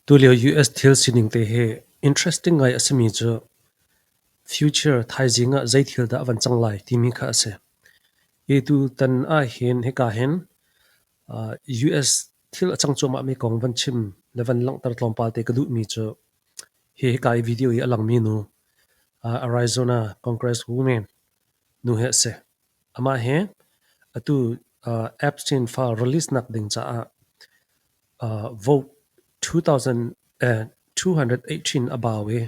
Tulio US thil sining te hi interesting ngai a simi cu future thaizing ah zei thil dah a van cang lai timi kha a si. Hi tutan ahhin hika hin US thil a cang cuahmahmi kong van chim le van langhter tlawmpal te ka duhmi cu hi hika i video hi a langmi nu Arizona Congresswoman nu hi a si. Amah hi atu Epstein file release nak ding caah vote 218 a bau i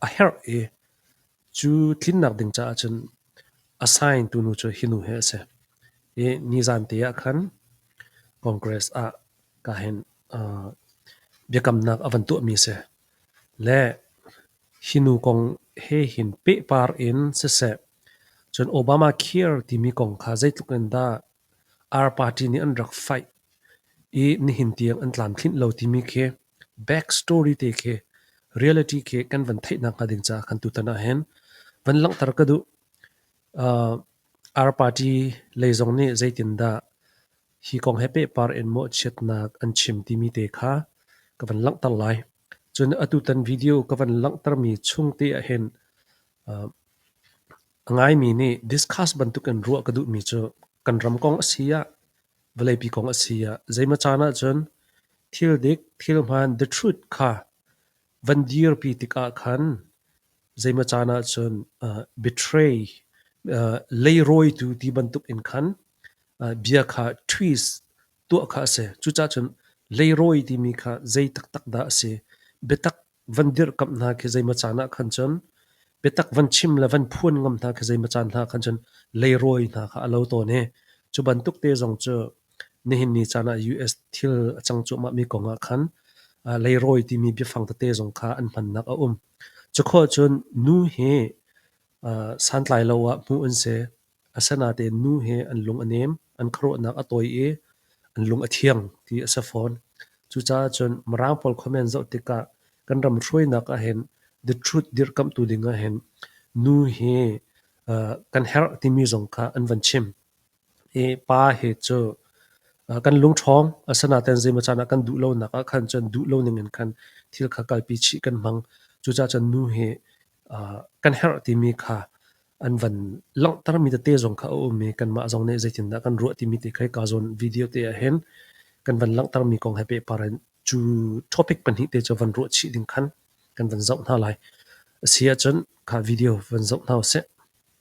a herh i cu tlinnak ding caah cun a sign tu nu cu hi nu hi a si. I nizan te ah khan Congress ah ka hin biakamnak a van tuahmi a si. Le hi nu kong he hin pehpar in siseh, cun Obamacare timi kong kha zeitluk in dah our party nih an rak faih i nihin tiang an tlamtlinh lo timi khi back story te khi reality khi kan van theih nakhnga ding caah khan tutan ah hin van langhter ka duh. Uh, our party lei zong nih zeitindah Hi kong he pehpar in mawhchiatnak an chim timi te kha ka van langhter lai. Cun atutan video ka van langhtermi chung te ahhin uh, a ngaimi nih discuss bantuk in ruah ka duhmi cu kan ram kong a si ah vawleipi kong a si ah zeimacan ahcun thil dik thil hmaan the truth kha Van dirpi tikah khan zeimaw caan ahcun betray, leirawitu ti bantukin khan bia kha twist tuah kha a si. Cucaah cun leirawi timi kha zei taktak dah a si? Biatak van dirhkamh hna khi zeimaw caan ah khan cun, biatak van chim le van phuan ngam hna khi zeimaw caan hna khan cun leirawi hna kha a lo tawn i cu bantuk te zong cu Nihin ni caan ah US thil a cang cuahmahmi kong ah khan leirawi timi biafang tete zong kha an hmannak a um. Cukhua cun nu hi santlai lo ah hmuh an si. Asinain nu hi an lung a nem, an khuaruahnak a tawi i an lung a thiang ti a si fawn. Cucaah cun Mirang pawl comment zoh tikah kan ram hruainak ahhin the truth dirhkamhtu ding ahhin nu hi kan herh timi zong kha an van chim. i pa hi cu kan lungṭhawng a si nain zeimaw caan ah kan duh lonak ah khan cun duh lo ningin khan thil kha kalpi chih kan hmang. Cucaah cun nu hi kan herh timi kha an van langhtermi tete zong kha a um i kanmah zong nih zeitindah kan ruah timi te kha hika zawn video te ah hin kan van langhtermi kong he pehpar in cu topic pahnih te cu van ruah chih ding khan kan van zoh hna lai. A si ahcun kha video van zoh hna u sih.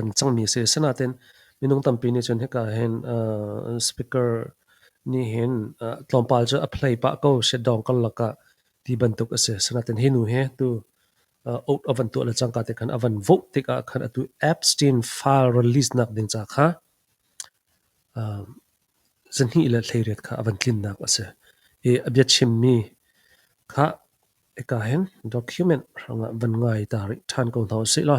an cangmi a si. Asinain minung tampi nih cun hika hin uh, speaker nih hin uh, tlawmpal cu a play pah ko si dong kan lakah ti bantuk a si. Asinain hi nu he tu uh, out avan tuah le cangka te khan avan vote tikah khan atu Epstein file release nak ding ca kha uh, zanhi le thleiriat kha avan tlinnak a si. I a bia chimmi kha eka hin document hranga van ngai ta ri than ko hna sih la.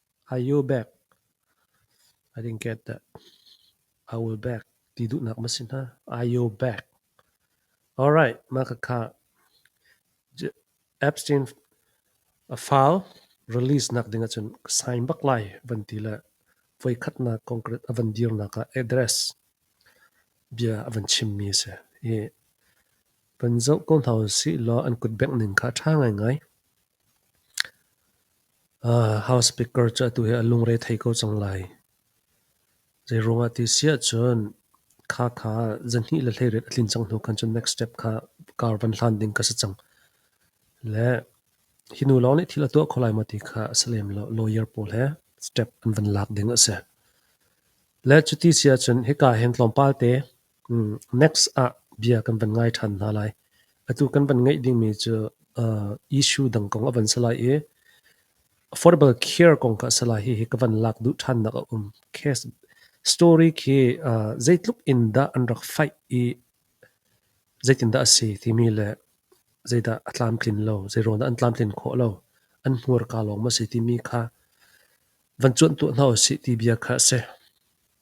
A yu bek, I think get that. A ul bek ti duhnak ma si hna. A yu bek. Alright, mah ka kha. Epstein a file release nak ding ahcun ka sign bak lai van ti le voi khatnak concrete a van dirnak ah address bia a van chimmi a si. I van zoh ko hna u si law an kut bengh ning kha a ṭha ngaingai. House speaker cu atu hi a lungre thei ko cang lai. Zeiruangah ti si ahcun khakha zahnih le hleiriat a tlin cang hnu khan cun next step kha car van hlan ding ka si cang. Le hi nu lawng nih thil a tuah kho lai maw ti kha a si lem lo. Lawyer pawl he step an van lak ding a si. Le cuti si ahcun hika hin tlawmpal te Next ah bia kan van ngai ṭhan hna lai. Atu kan van ngeih dingmi cu uh, issue dang kong a van si lai i affordable care kong kha a si lai. Hihi ka van lak duh ṭhannak a um. Case story khi uh, zeitluk in dah an rak fight i zeitindah a si timi le zeidah a tlamtlin lo, zeiruangdah an tlamtlin khawh lo, an hmurka lawng maw a si timi kha van cuanh tuah hna u sih ti bia kha a si.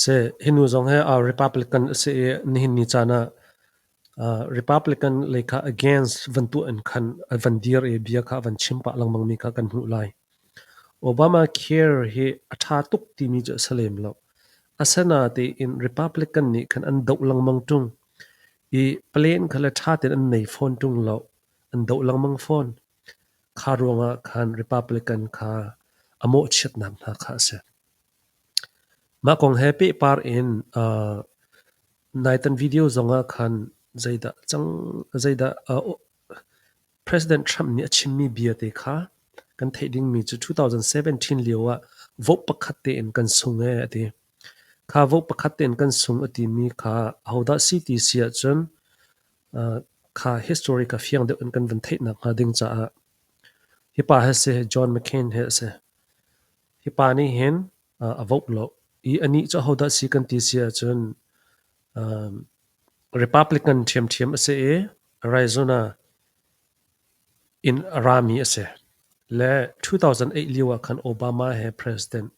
Seh, hi nu zong hi Republican a si i nihin ni caan ah Republican lei kha against van tuah in khan van dir i bia kha van chim pah lengmang mi kha kan hmuh lai. Obamacare hi a ṭha tuk timi cu a si lem lo. Asinain Republican nih khan an doh lengmang ṭung i plan kha le ṭha tein an nei fawn ṭung lo. An doh lengmang fawn. Kha ruangah khan Republican kha a mawhchiatnak hna kha a si. Mah kong he pehpar in uh, naitan video zongah khan zeidah cang zeidah uh, President Trump nih a chimmi viate kha kan theih dingmi cu 2017 lio ah vote pakhat tein kan sung e a ti. Kha vote pakhat tein kan sung a timi kha ahodah si ti si ahcun kha historic ah fiang deuh in kan vun theih nakhnga ding caah hi pa he si John McCain he a si. Hi pa nih hin a voh lo i anih cu ahodah si kan ti si ahcun Republican ṭhiamṭhiam a si i Arizona in a rami a si. Le 2008 lio ah khan Obama he president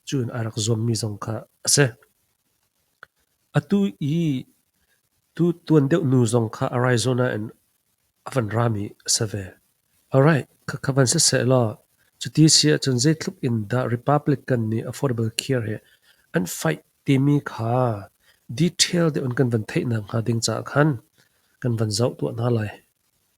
cu in a rak zuammi zong kha a si. Atu i tu tuan deuh nu zong kha Arizona in a van rami a si ve. Alright, khakha van siseh law, cuti a si ahcun zeitluk in dah Republican nih affordable care hi an fight timi kha detail deuh in kan van theih nakhnga ding caah khan kan van zoh tuah hna lai.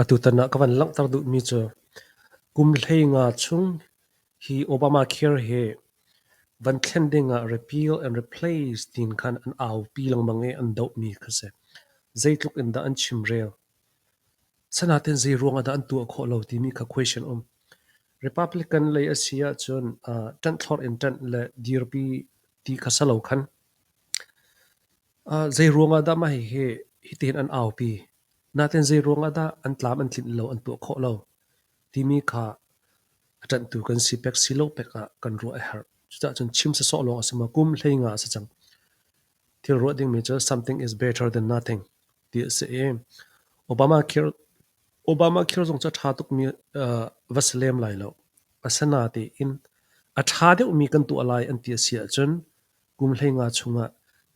Atutan ah ka van langhter duhmi cu kum hlei nga chung hi Obamacare hi van thlen ding ah repeal and replace tiin khan an aupi lengmang i an dohmi kha a si. Zeitluk in dah an chimrel. Sanatin zeiruang ah dah an tuah khawh lo timi kha question um. Republican lei a si ahcun uh, ṭanh thlor in ṭanh le dirpi ti kha sa lo khan. Uh, zeiruang ah dah mah hihi hitin an aupi. Natin zeiruang ah dah an tlam an tlinh lo an tuah khawh lo timi kha a ṭanhtu kan si pek si lo pek ah kan ruah a herh. Cucahcun chim sawsawh lawng a si maw, kum hlei nga a si cang. Thil ruah dingmi cu something is better than nothing ti a si i Obama khir Obama khir zong cu a ṭha tukmi uh, va si lem lai lo. Asina tiin a ṭha deuhmi kan tuah lai an ti a si ahcun Kum hleinga chungah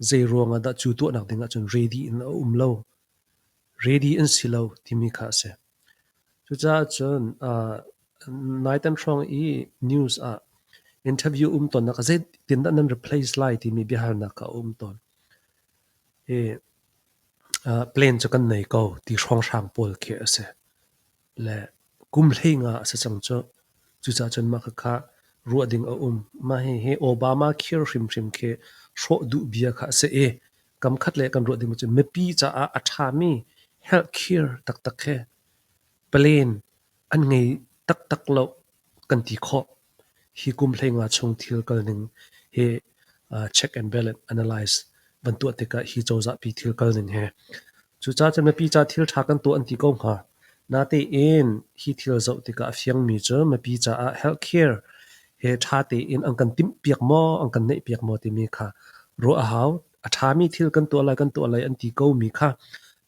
zeiruangah dah cu tuahnak dingah cun ready in a um lo, ready an si lo timi kha a si. Cucaah cun uh, naitan hrawng i news ah interview um tonnak zeitindah nan replace lai timi biahalnak a um tawn. I uh, plan cu kan nei ko ti hrawnghrang pawl khi a si. le kum hlei nga a si cang cu. Cucaah cun mah kha ruah ding a um. Mah hihi Obama khir hrimhrim khi hrawh duh bia kha a si i kam khat le kan ruah ding cu mipi caah a ṭhami helh khir taktak khi plan an ngei taktak lo. kan ti khawh. Hi kum hleinga chung thil kalning hi check and balance analyze van tuah tikah hi cozahpi thil kalning he. Cucaah cun mipi ca thil ṭha kan tuah an ti ko hnga. Natein hi thil zoh tikah a fiangmi cu mipi caah healthcare he ṭha tein an kan timhpiak maw, an kan neihpiak maw timi kha ruah a hau. A ṭhami thil kan tuah lai, kan tuah lai an ti komi kha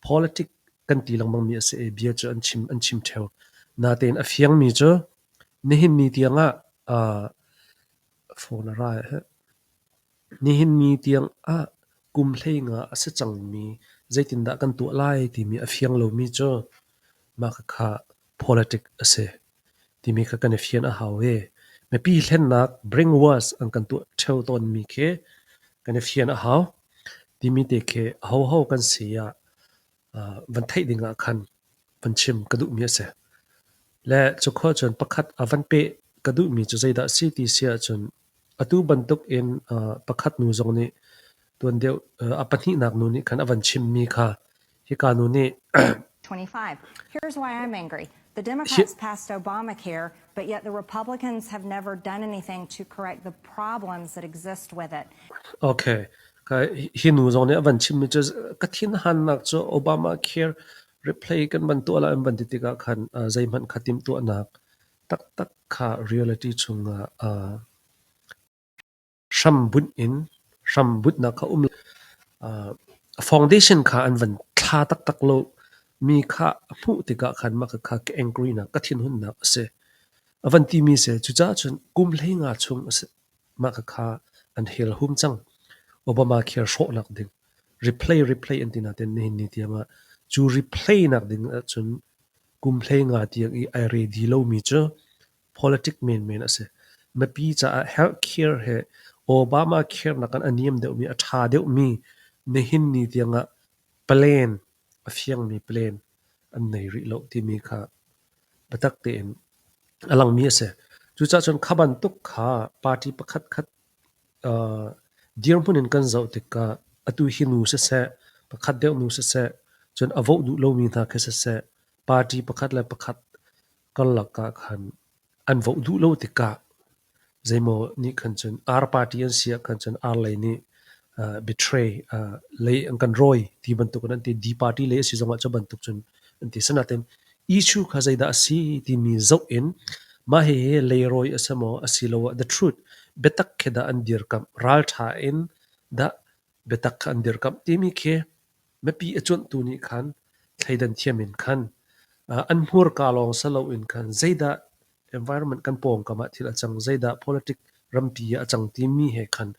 politics kan ti lengmangmi a si i bia cu an chim an chim ṭheo. Natein a fiangmi cu nihin ni tiangah aa phone a ra hi. Nihin ni tiangah kum hleingah a si cangmi zeitindah kan tuah lai timi a fiang lomi cu mah khakha politic a si. timi kha kan i fian a hau i mipi hlennak bring wars an kan tuah ṭheo tawnmi khi kan i fian a hau timi te khi ahoho kan si ah uh, van theih ding ah khan van chim ka duhmi a si. Le cu khua cun pakhat a van peh ka duhmi cu zeidah si ti si ahcun Atu bantukin pakhat nu zong nih tuan deuh a pahnihnak nu nih khan a van chimmi kha hika nu nih 25. Here's why I'm angry. The Democrats passed Obamacare, but yet the Republicans have never done anything to correct the problems that exist with it. Okay. Hi nu zong nih a van chimmi cu ka thinhannak cu Obamacare replay kan van tuah la an van ti tikah khan zeihmanh kha timtuahnak taktak kha reality chungah aa hrambunh in hrambunhnak a um. Uh, foundation kha an van thla taktak lo mi kha a hmuh tikah khan mah kha ka angry nak ka thin hunnak a si a van ti mi se cu ca chun kum hlei nga chung a si mah kha kha an hel hum cang obama khel hrawh nak ding replay replay an tina ten ni ni tiama chu replay nak ding ah chun Kum hleinga tiang i ai re di lomi cu politic menmen a si. Mipi caah healthcare he Obamacare nakin a niam deuhmi, a ṭha deuhmi nihin ni tiangah plan, a fiangmi plan an nei rih lo timi kha biatak tein a langmi a si. Cucahcun kha bantuk kha party pakhatkhat Dirhmun in kan zoh tikah atu hi nu siseh, pakhat deuh nu siseh, cun a voh duh lomi hna khi siseh, party pakhat le pakhat karlak ah khan an voh duh lo tikah zeimaw nih khan cun ar party an si ah khan cun ar lei nih betray lei an kan rawi ti bantukin an ti D party lei a si zongah cu bantuk cun an ti sanaten issue kha zeidah a si timi zoh in mah hihi leirawi a si maw a si lo ah the truth biatak khi dah an dirkamh ralṭha in dah biatak kha an dirkamh timi khi Mipi a cuanhtu nih khan thleidan thiam in khan an hmurka lawng si loin khan zeidah environment kan pawngkam ah thil a cang, zeidah politic rampi ah a cang timi he khan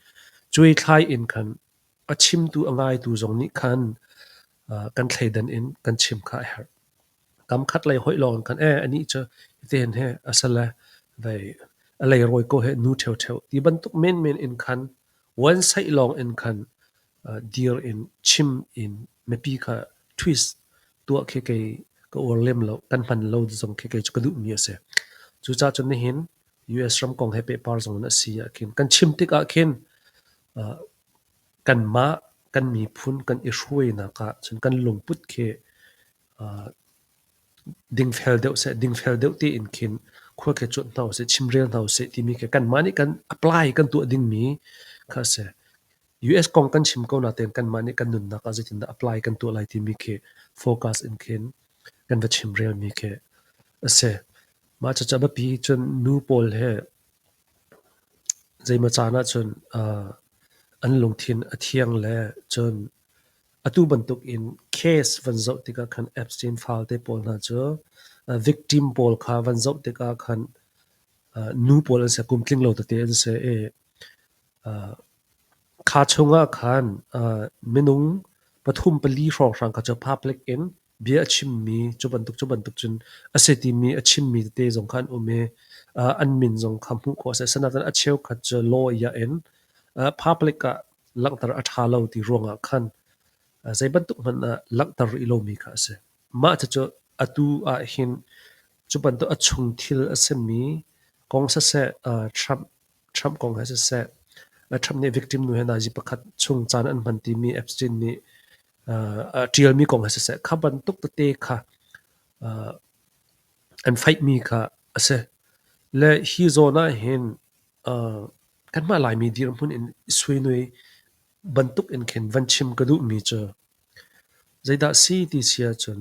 cuaithlai in khan a chimtu a ngaitu zong nih khan kan thleidan in kan chim kha a herh. Kamkhat lei hoih lawng khan ee anih cu hiten he a sale vei a leirawi ko he nu ṭheuṭheu ti bantuk menmen in khan Vuansaih lawngin khan dir in chim in mipi kha twist tuah khi kei ka uar lem lo. Kan hman lo zong khi kei cu ka duhmi a si. Cucaah cun nihin US ram kong he pehpar zong in a si ahkhin kan chim tikah khin kanmah kan miphun kan i hruainak ah cun kan lungput khi dingfel deuh seh, dingfel deuh tein khin khua ke cuanh hna usih, chimrel hna usih timi khi kanmah nih kan apply kan tuah dingmi kha a si. US kong kan chim ko natein kanmah nih kan nunnak ah zeitindah apply kan tuah lai timi khi focus in khin kan va chimrelmi khi a si. Mah cucu a biapi cun nu pawl he zeimaw caan ahcun an lungthin a thiang le cun Atu bantukin case van zoh tikah khan Epstein falte pawl hna cu victim pawl kha van zoh tikah khan nu pawl an si, kum tling lo tete an si i kha chungah khan minung pathum pali hrawnghrang kha cu public in bia a chimmi cu bantuk cu bantuk cun a si timi a chimmi tete zong kha an um i uh, an min zong kha hmuh khawh a si. Asinain a cheukhat cu law iah in uh, public ah langhter a ṭha lo ti ruangah khan uh, zei bantuk hmanh ah langhter i lomi kha a si. Mah cu atu ah hin cu bantuk a chung thil a simi kong saseh uh, Trump Trump kong he siseh, Trump nih victim nu he nazi pakhat chung caan an hman timi Epstein nih a ṭialmi kong he siseh, kha bantuk tete kha an faihmi kha a si. Le hi zawn ah hin kanmah Laimi dirhmun in i suinui bantuk in khin van chim ka duhmi cu zeidah si ti si ahcun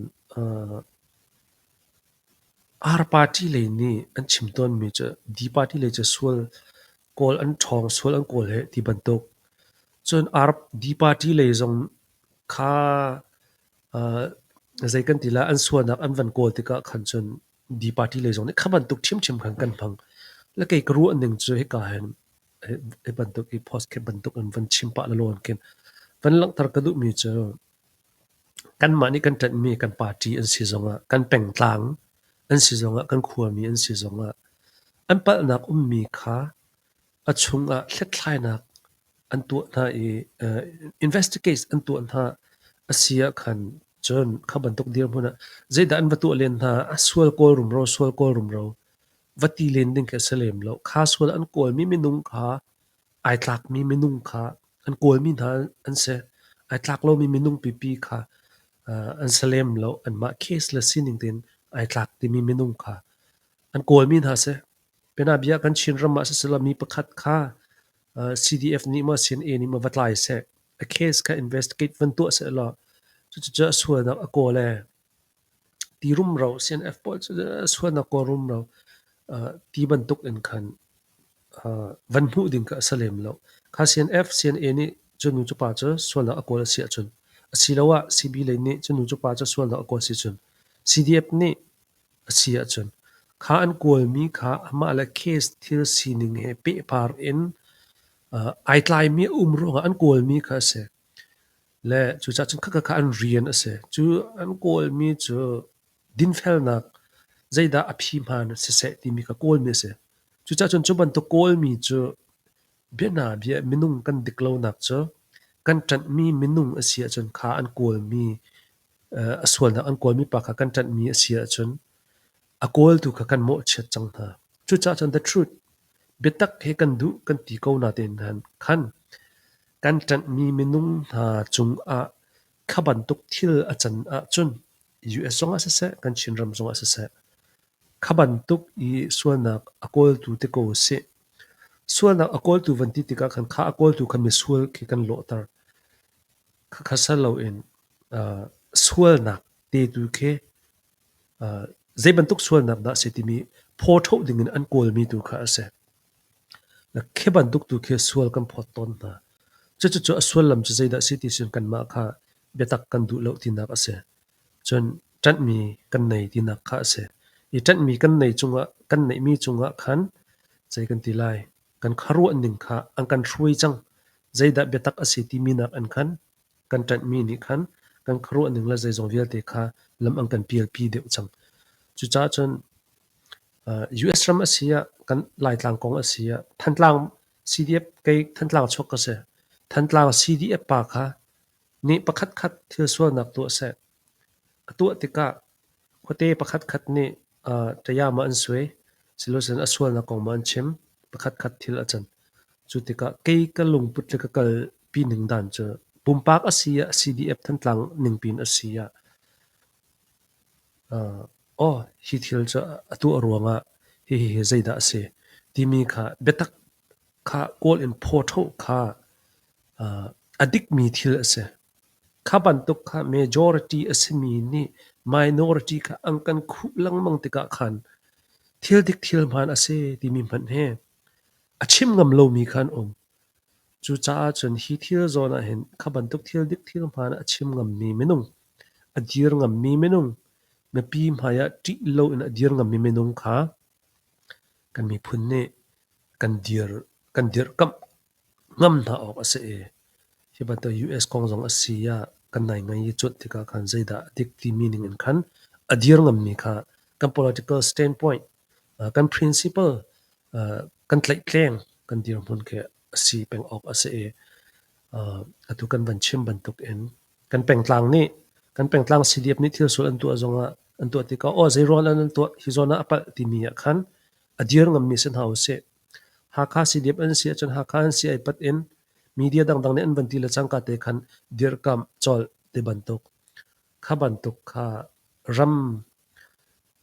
Ar party lei nih an chim tawnmi cu D party lei cu sual kawl an ṭhawng sual an kawl hih ti bantuk. Cun Ar D party lei zong kha aa zei kan ti lai an sualnak an van kawl tikah khan cun D party lei zong nih kha bantuk ṭhiamṭhiam khan kan hmang. Le kei ka ruah ning cu hika hin hi bantuk hi post khe bantuk in van chim pah lalaw in khin van langhter ka duhmi cu Kanmah nih kan ṭanhmi kan party an si zongah, kan pengtlang an si zongah, kan khuami an si zongah an palhnak ummi kha a chungah hlethlainak an tuah hna i investigate an tuah hna a si ahkhan cun kha bantuk dirhmun ah zeidah an va tuah len hna a sual kawl rumro sual kawl rumro va ti len ding khi a si lem lo. Kha sual an kawlmi minung kha Ai tlakmi minung kha an kawlmi hna an si. Ai tlak lomi minung pipi kha an si lem lo. Anmah case le sining tein ai tlak timi minung kha an kawlmi hna si. Bianabia kan Chinram ah siseh mi pakhat kha CDF nih maw CNA nih maw va tlai seh, a case kha investigate van tuah seh law cucu a sualnak a kawl ee. Ti rumro CNF pawl cu sualnak kawl rumro ti bantuk in khan van hmuh ding kha a si lem lo. Kha CNF, CNA nih cu nu cu pa cu sualnak a kawl a si ahcun asiloah CB lei nih cu nu cu pa cu sualnak a kawl a si ahcun CDF nih a si ahcun kha an kawlmi kha amah le case thil sining he pehpar in ai tlaimi a um ruangah an kawlmi kha a si. Le cucah cun khatkhat kha an rian a si. Cu an kawlmi cu dinfelnak zeidah a phi hmaan siseh timi kha kawlmi a si. Cucah cun cu bantuk kawlmi cu bianabia minung kan dik lonak cu kan ṭanhmi minung a si ahcun kha an kawlmi a sualnak an kawlmi pa kha kan ṭanhmi a si ahcun a kawltu kha kan mawhchiat cang hna. Cucah cun the truth biatak hi kan duh kan ti ko natein khan Kan ṭanhmi minung hna cungah kha bantuk thil a can ahcun US zongah siseh kan Chinram zongah siseh kha bantuk i sualnak a kawltu te ko usih. Sualnak a kawltu van ti tikah khan kha a kawltu kha misual khi kan lawhter. Khakha sal loin sualnak tetu khi Zei bantuk sualnak dah a si timi phaw ṭhoh dingin an kawlmi tu kha a si. Khi bantuk tu khi sual kan phawt tawn hna. Cucucu a sullam cu zeidah a si ti cun kanmah kha biatak kan duh lo tinak a si. Cun ṭanhmi kan nei tinak kha a si. I ṭanhmi kan nei cungah, kan neihmi cungah khan zei kan ti lai? Kan khuaruah ning kha an kan hruai cang. Zeidah biatak a si timi nakin khan kan ṭanhmi nih khan kan khuaruahning le zeizong vialte kha lam an kan pialpi deuh cang. Cucaah cun US ram a si ah kan Laitlang kong a si ah Thantlang CDF kei Thantlang chuak ka si. Thantlang CDF pa kha ni pakhat khat thil sualnak tuah seh A tuah tikah khuate pakhatkhat nih ṭayama an suai, silocun a sualnak kong maw an chim. Pakhatkhat thil a can. Cu tikah kei ka lungput le ka kalpi ning dan cu pumpak a si ah CDF Thantlang ningpiin a si ah aw hi thil cu a tuah ruangah hihi hi zeidah a si timi kha biatak kha kawl in phaw ṭheo kha a dikmi thil a si. Kha bantuk kha majority a simi nih minority kha an kan khuh lengmang tikah khan thil dik thil hmaan a si timi hmanh hi a chim ngam lomi kha an um. Cucaah cun hi thil zawn ah hin kha bantuk thil dik thil hmaan a chim ngammi minung, a dir ngammi minung, mipi hmaiah ṭih loin a dir ngammi minung kha kan miphun nih kan dir, kan dirkamh. Ngamh hna awk a si i hi bantuk US kong zong a si ah kan naingai i cuanh tikah khan zeidah a dik timi ningin khan a dir ngammi kha kan political standpoint, uh, kan principle uh, kan tlaihtleng kan dirhmun khi a si peng awk a si i uh, atu kan van chim bantuk in kan pengtlang nih kan pengtlang CDF nih thil sual an tuah zongah an tuah tikah aw zei rawl an tuah hi zawn ah a palh timi ah khan a dir ngammi si hna usih Hakha Sidiap an si ahcun Hakha an si ai pat in media dangdang nih an van ti le cangka te khan dirhkamh colh ti bantuk. Kha bantuk kha ram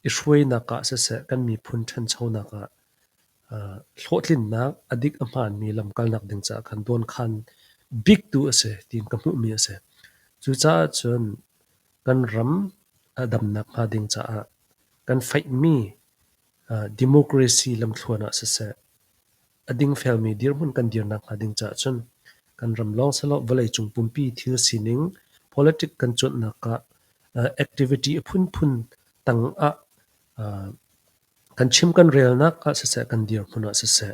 i hruainak ah siseh kan miphun ṭhanchonak ah uh, hlawhtlinnak a dik a hmaanmi lamkalnak ding caah khan dawnkhan biktu a si tiin ka hmuhmi a si. Cucaah cun kan ram a damnak hnga ding caah kan faihmi Democracy lamthluan ah siseh, a dingfelmi dirhmun kan dir nakhnga ding caah cun kan ram lawng selaw vawleicung pumpi thil sining politic kan cuanhnak ah activity a phunphun tang ah kan chim kan relnak ah siseh, kan dirhmun ah siseh,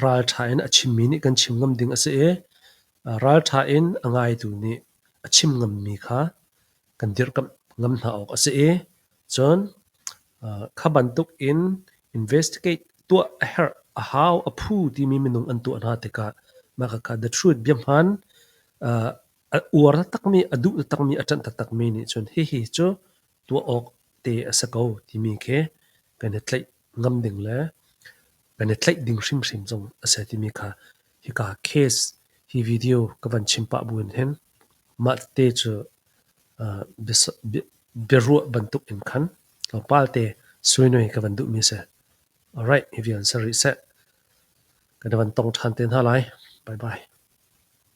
ralṭha in a chimmi nih kan chim ngam ding a si i ralṭha in a ngaitu nih a chim ngammi kha kan dirkamh ngam hna awk a si i cun kha bantuk in investigate tuah a herh a hau a phu timi minung an tuah hna tikah mah kha the truth bia hmaan a uar takmi a duh takmi a ṭanh takmi nih cun hihi cu tuah awk te a si ko timi khi kan i tlaih ngam ding le kan i tlaih ding hrimhrim zong a si timi kha hika case hi video ka van chim pah bu in hin mah te cu biaruah bantuk in khan tlawmpal te suinoi ka van duhmi si alright hi vial si rih seh kan van tong ṭhan te hna lai bye bye